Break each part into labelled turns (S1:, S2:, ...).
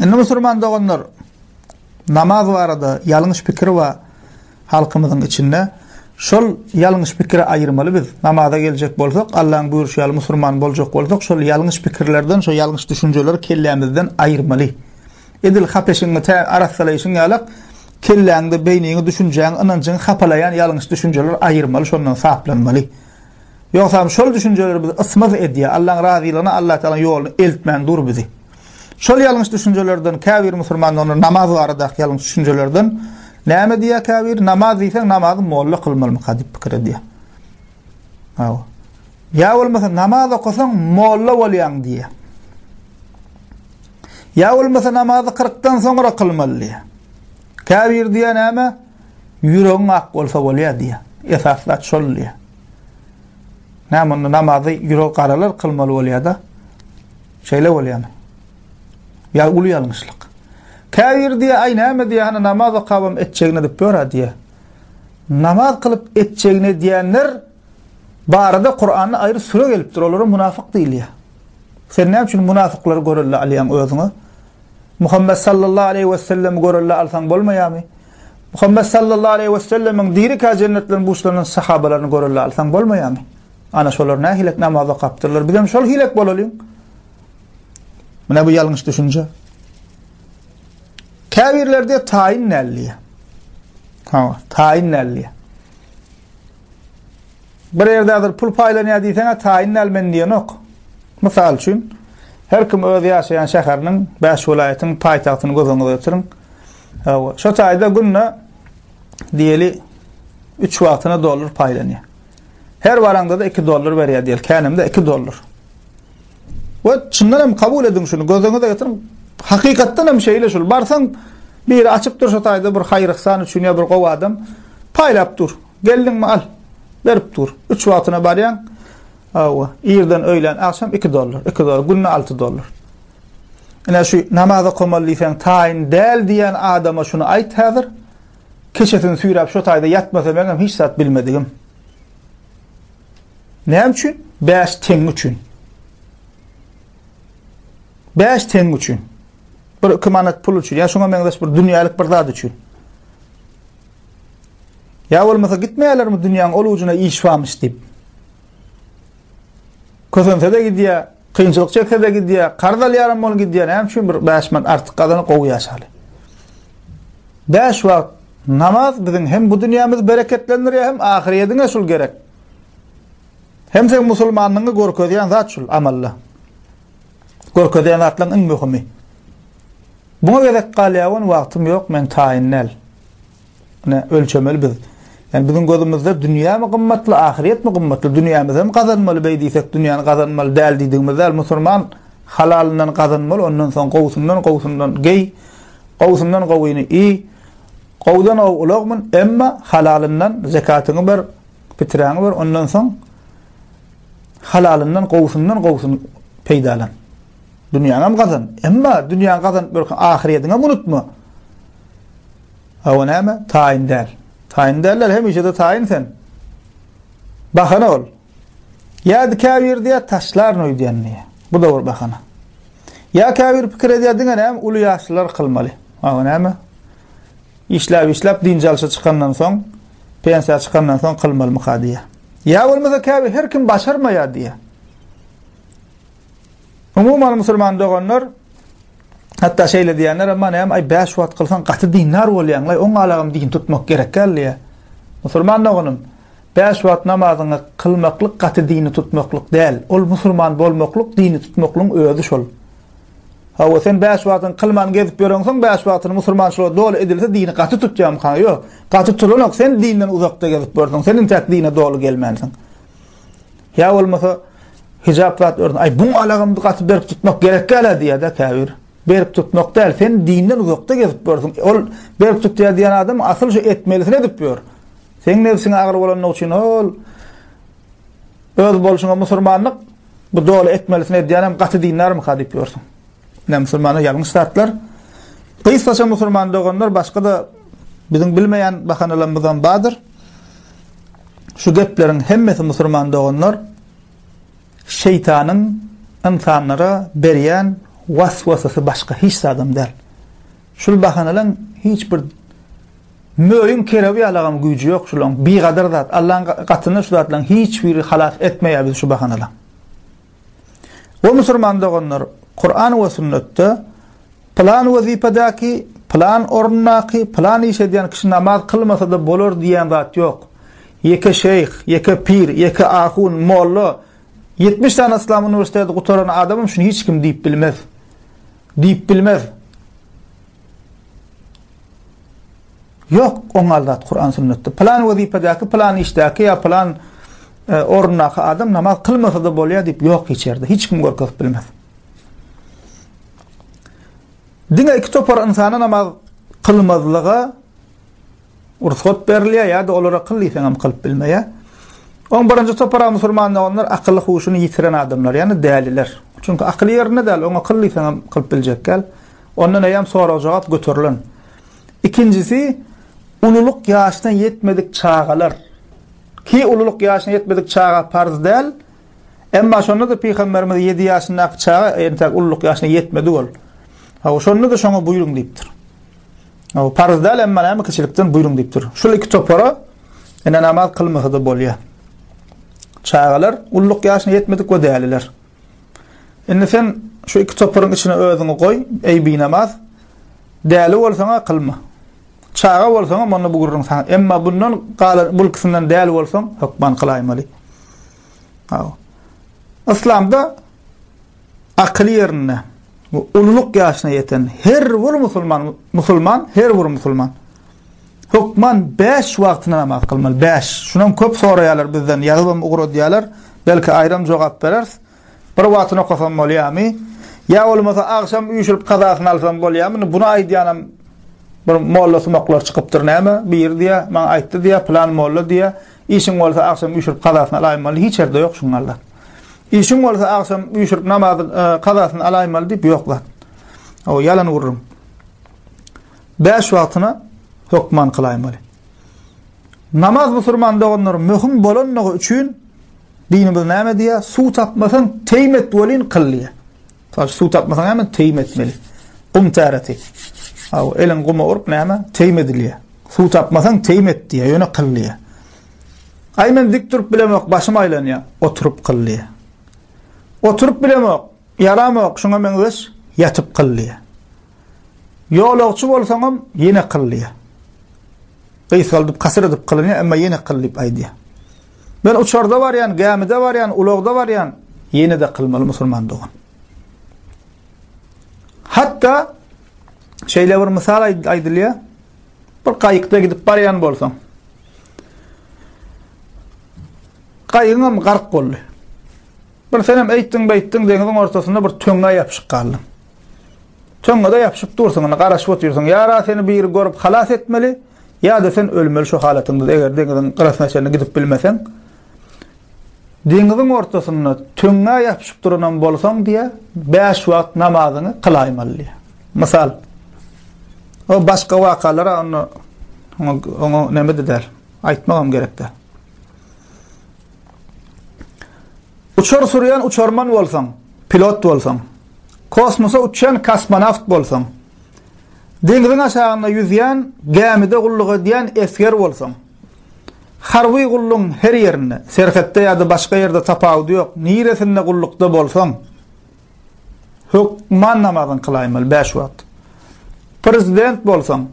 S1: Indi musulman doganlar namaz barada ýalňyş pikir bar halkymyzyň içinde. Şol ýalňyş pikiri aýyrmaly biz. Namaza geljek bolsak, Allaň buýruşy ýaly musulman boljak bolsak, şol ýalňyş pikirlerden, şol ýalňyş düşünjeleri kellämizden aýyrmaly. Edil hapeşiňi tä arassalaýşyň ýalak, kelläňde, beýniňi, düşünjäňi, ynanjyňy hapalaýan ýalňyş düşünjeleri aýyrmaly, şondan saplanmaly. Ýogsam şol düşünjeler bizi ysmaz edýär. Allaň razylygyna, Allatagalaň ýoluna eltmän dur bizi. Şol ýalňyş düşünjelerden käbir musulmanlar onda namaz baradaky ýalňyş düşünjelerden näme diýýär käbir? Namaz diýseň namazy molla kylmalymyka diýip pikir edýär. Hawa. Ýa bolmasa namaz okasaň molla bolýaň diýýär. Ýa bolmasa namazy 40 dan soňra kylmaly diýýär. Käbir diýýär näme? Ýüregiň ak bolsa bolýar diýýär. Esasy zat şol diýýär. Näme onda namazy ýüregi garalar kylmaly bolýar-da. Şeýle bolýarmy? Ýa uly ýalňyşlyk. Käbir diýýär, aý näme diýýär, hany namaz okabam etjegini edip ýör-ä diýýär. Namaz kylyp etjegini edýänler barada Kuranda aýry süre gelipdir, olara munafyk diýilýär. Sen näme üçin munafyklary görelde alýaň özüňe? Muhammet sallallahu aleýhi wessellemi görelle alsaň bolmaýamy? Muhammet sallallahu aleýhi wesellemiň dirikä jennet bilen buşlanan sahabalaryny görelle alsaň bolmaýamy? Ana şolar nähilek namaz okapdyrlar. Bizem şol hilek bolalyň. Mine bu ýalňyş düşünje. Käbirlerde taýyn näliýe. Ha, taýyn näliýe. Bir ýerde häzir pul paýlanýar diýseň-ä taýyn däl men diýenok. Mysal üçin, her kim öz ýaşaýan şäheriniň, bäş welaýatyň paýtagtyny göz öňüňize getiriň. Hawa, şo taýda günde diýeli üç wagtyna dollar paýlanýar. Her baraňda-da iki dollar berýär diýeli, känemde iki dollar. We çyndan hem kabul ediň şuny, göz öňüňize getiriň. Hakykatdan hem şeýle şul. Barsaň, biri açyp dur şo taýda bir haýyr-yhsan üçin ýa bir gowy adam paýlap dur. Geldiňmi, al. Berip dur. Üç wagtyna barýaň. Hawa, irden öýlän, agşam iki dollar. Iki dollar, günde alty dollar. Ine şu namaz okamaly diýseň taýyn däl diýen adama şuny aýt häzir. Keçesini süýräp şu taýda ýatmasa meňem hiç zat bilmedigim. Näme üçin? 5 teň üçin. 5 teň üçin. Bir iki manat pul üçin. Ya şuna meňzeş bir dünýälik bir zat üçin. Ýa bolmasa gitmeýärlermi dünýäň ol ujuna iş barmyş diýip. Kösense-de gidýär, kynçylyk çekse-de gidýär, karz alýaram bolup gidýär. Näme üçin bir 5 manat artyk gazanyp gowy ýaşaly. 5 wagt namaz biziň hem bu dünýämizi bereketlendirýär, hem ahyryýetiňe şul gerek. Hem sen musulmanlygyňy görkezýän zat şul amalla. Görkezýän zatlaryň iň möhümi. Buna gezek galýar, wagtym ýok, men taýyn däl. ölçemeli biz. Yani biziň gözümizde dünýä mi gymmatly, ahyret mi gymmatly? Dünýämizi hem gazanmaly beý diýsek, dünýäni gazanmaly däl diýdigimiz däl. Musulman halalyndan gazanmaly, ondan soň gowusyndan gowusyndan geý, gowusyndan gowyny iý. Gowudan gowy ulagmyn, emma halalyndan zekatyňy ber, piträňi ber, ondan soň halalyndan gowusyndan gowusyny peýdalan. Dünýäňem gazan. Emma dünýäňi gazanyp ýörkäň ahyryýetiňem unutma. Hawa näme? Taýyn däl. Taýyn däller hemişe-de taýyn sen. Bahana ol. Ýa-da käbir diýýär taşlaryn öýdýän diýýär. Bu da bir bahana. Ýa käbir pikir edýär diňe näme uly ýaşlylar kylmaly. Hawa näme? Işläp-işläp dynç alşa çykandan soň, pensiýa çykandan soň kylmalymyka diýýär. Ýa bolmasa käbir her kim başarmaýar diýýär. Umuman musulman doganlar hatda şeýle diýenler hem bar, aý bäş wagt kylsaň gaty dindar bolýaň, aý oň alagam din tutmak gerek däl diýýär. Musulman doganym, bäş wagt namazyňy kylmaklyk gaty dini tutmaklyk däl, ol musulman bolmaklyk dini tutmaklygyň özi şol. Hawa sen bäş wagtyňy kylman gezip ýöreňsoň bäş wagtyny musulmançylyga doly edilse dini gaty tutýamyka? Ýok, gaty turanok, sen dinden uzakda gezip ýörsüň, sen intäk dine doly gelmänsiň. Ýa bolmasa hijap zat ördün. Ay bu alagymdy gaty berip tutmak gerek gäle diýýär de käbir. Berip tutmak däl, sen dinden uzakda gezip görsün. Ol berip tutýar diýen adam asyl şu etmelisini edip ýör. Sen nebsiňe agyr bolanyň üçin ol öz bolşuňa musulmanlyk bu doly etmelisini edýän hem gaty dindarmy ka diýip ýörsün. Ne musulmana ýalňyş zatlar. Gysgaça musulman doganlar başga da biziň bilmeýän bahanalarymyzdan bardyr. Şu gepleriň hemmesi musurman doganlar şeýtanyň ynsanlara berýän was-wasasy başga hiç zadam däl. Şul bahanalaň hiç bir möýüň kerewi ýalagam güýji ýok şulaň bigadar zat Allaň gatyna şu zatlaň hiç biri halas etmeýär bizi şu bahanalaň. O musurman doganlar, Kuran we sünnetde pylan wezipedäki, pylan orundaky, pylan iş edýän kişi namaz kylmasada bolar diýýän zat ýok. Ýeke şeýh, ýeke pir, ýeke ahun, molla, ýetmiş sany yslam uniwersiteti gutaran adamam şuny hiç kim diýip bilmez. Diýip bilmez. Ýok, oňal zat Kuran sünnetde. Pylan wezipedäki, pylan işdäki ýa pylan e, orundaky adam namaz kylmasa-da bolýar diýip ýok hiç ýerde. Hiç kim görkezip bilmez. Diňe iki topar ynsana namaz kylmazlyga ruhsat berilýär ýa-da olara kyl diýseň hem kylyp bilmeýär. On birinji topara musulman olanlar akyl huşuny ýitiren adamlar, ýani däliler. Çünki akyl ýerinde däl, oňa kyl diýseň hem kylyp biljek däl. Ondan eýem sorag-jogap göterilen. Ikinjisi, ululyk ýaşyna ýetmedik çagalar. Ki ululyk ýaşyna ýetmedik çaga parz däl. Emma şonda-da pygamberimiz ýedi ýaşyndaky çaga, entäk ululyk ýaşyna ýetmedi ol. Hawa, şonda-da şoňa buýruň diýipdir. Hawa, parz däl, emma näme kiçilikden buýruň diýipdir. Şul iki topara ene namaz kylmasa-da bolýar. Çagalar ululyk ýaşyna ýetmedik we däliler. Indi sen şu iki toparyň içine özüňi goý, eý binamaz! Däli bolsaň-a kylma. Çaga bolsaň-a munda bu gürrüň saňa. Emma bundan galan bu ikisinden däli bolsaň, hökman kylaýmaly. Aw. Yslamda akyl ýerinde, ululyk ýaşyna ýeten her bir musulman, musulman, her bir musulman. Hökman bäş wagtyna namaz kylmaly, bäş. Şunam köp soraýarlar bizden, ýazybam ugradýarlar. Belki aýram jogap bereris. Bir wagtyna okasam bolýarmy? Ýa bolmasa agşam üýşürip kazasyny alsam bolýarmy? Indi buny aýdýanam bir mollasumaklar çykypdyr näme, biri diýýär, maňa aýtdy diýýär, pylan molla diýýär, işiň bolsa agşam üýşürip kazasyny alaýmaly, hiç ýerde ýok şuň ýaly zat. Işiň bolsa agşam üýşürip namazyň kazasyny alaýmaly diýip ýok zat. O ýalan gürrüň. Bäş wagtyna hökman kylaýmaly. Namaz musurman doganlarym möhüm bolanlygy üçin dinimiz näme diýýär? Suw tapmasaň teýim et welin kyl diýýär. Taş suw tapmasaň näme teýim etmeli. Gum täreti. Aw eliň guma urup näme teýim edilýär. Suw tapmasaň teýim et diýýär, ýöne kyl diýýär. Aý men dik durup bilemok, başym aýlanýar. Oturyp kyl diýýär. Oturyp bilemok, ýaramok, şuňa meňzeş ýatyp kyl diýýär. Ýolagçy bolsaňam ýene kyl diýýär. Gysgaldyp, kasyr edip kylynýar, emma ýene kyl diýip aýdýar. Men uçarda barýan, gämide barýan, ulagda barýan, ýene-de kylmaly musulman dogan. Hatda şeýle bir mysal aýdylýar. Bir gaýykda gidip barýan bolsaň, gaýygyňam gark boldy. Bir senem eýtdiň beýtdiň deňiziň ortasynda bir töňňä ýapyşyp galdyň. Töňňede ýapyşyp dursuň, indi garaşyp otyrsyň. Ýa-da seni biri görüp halas etmeli, ýa-da sen ölmeli şu halatyňda. Eger deňiziň gyrasyna çenli gidip bilmeseň, deňiziň ortasynda töňňä ýapyşyp duranam bolsaň diýe, 5 wagt namazyňy kylaýmaly diýe. Mysal. O başga wakalara onda oňa näme diýer? Aýtmagam gerekdi. Uçar sürýän uçarman bolsaň, pilot bolsaň, kosmosa uçýan kosmonawt bolsaň, deňziň aşagynda ýüzýän gämide gulluk edýän esger bolsaň, harby gullugyň her ýerinde, serhetde ýa-da başga ýerde tapawudy ýok, niresinde gullukda bolsaň, Hökman namazyňy kylaýmaly bäş wagt. Prezident bolsaň,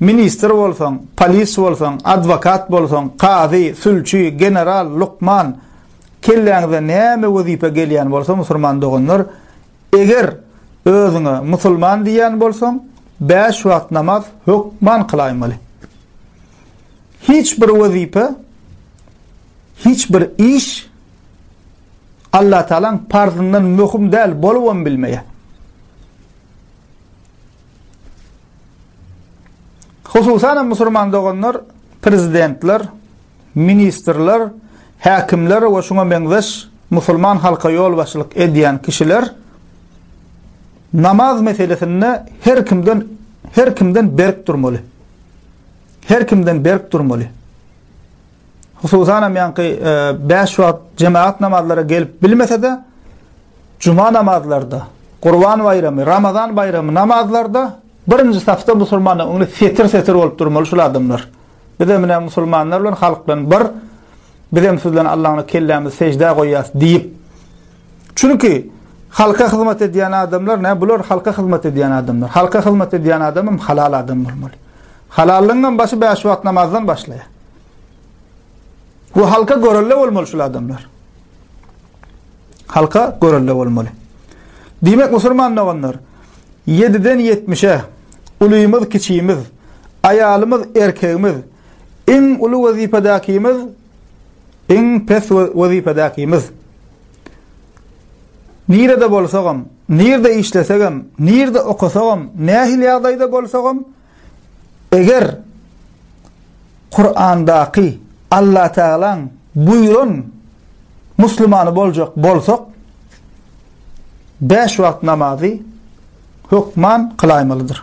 S1: ministr bolsaň, polis bolsaň, adwokat bolsaň, kazy, sülçi, general, lukman, kelläňize näme wezipe gelýän bolsa musurman doganlar, eger özüňe musulman diýýän bolsaň, bäş wagt namaz hökman kylaýmaly. Hiç bir wezipe, hiç bir iş, Allatagalaň parzyndan möhüm däl bolubam bilmeýär. Hususan hem musulman doganlar, prezidentler, ministrler, häkimler we şuňa meňzeş musulman halka ýolbaşçylyk edýän kişiler namaz meselesinde her kimden her kimden berk durmaly. Her kimden berk durmaly. Hususan hem ýaňky bäş wagt jemagat namazlara gelip bilmese-de, juma namazlarda, Gurban baýramy, Ramazan baýramy namazlarda birinji safda musulmanlar öňünde setir-setir bolup durmaly şul adamlar. Biz hem ine musulmanlar bilen halk bilen bir biz hem sizden Allahyna kellämizi sejdä goýýas diýip. Çünki halka hyzmat edýän adamlar ne bular halka hyzmat edýän adamlar. Halka hyzmat edýän adamym halal adam bolmaly. Halallygyň hem başy bäş wagt namazdan başlaýar. Bu halka görelde bolmaly şul adamlar. Halka görelde bolmaly. Diýmek musulman doganlar 7-den 70-e ulymyz, kiçimiz, aýalymyz, erkegimiz, iň uly wezipedäkimiz, iň pes wezipedäkimiz. Nirede bolsagam, nirede işlesegem, nirede okasagam, nähili ýagdaýda bolsagam, Eger Kurandaky Allatagalaň buýran musulmany boljak bolsak, bäş wagt namazy hökman kylaýmalydyr.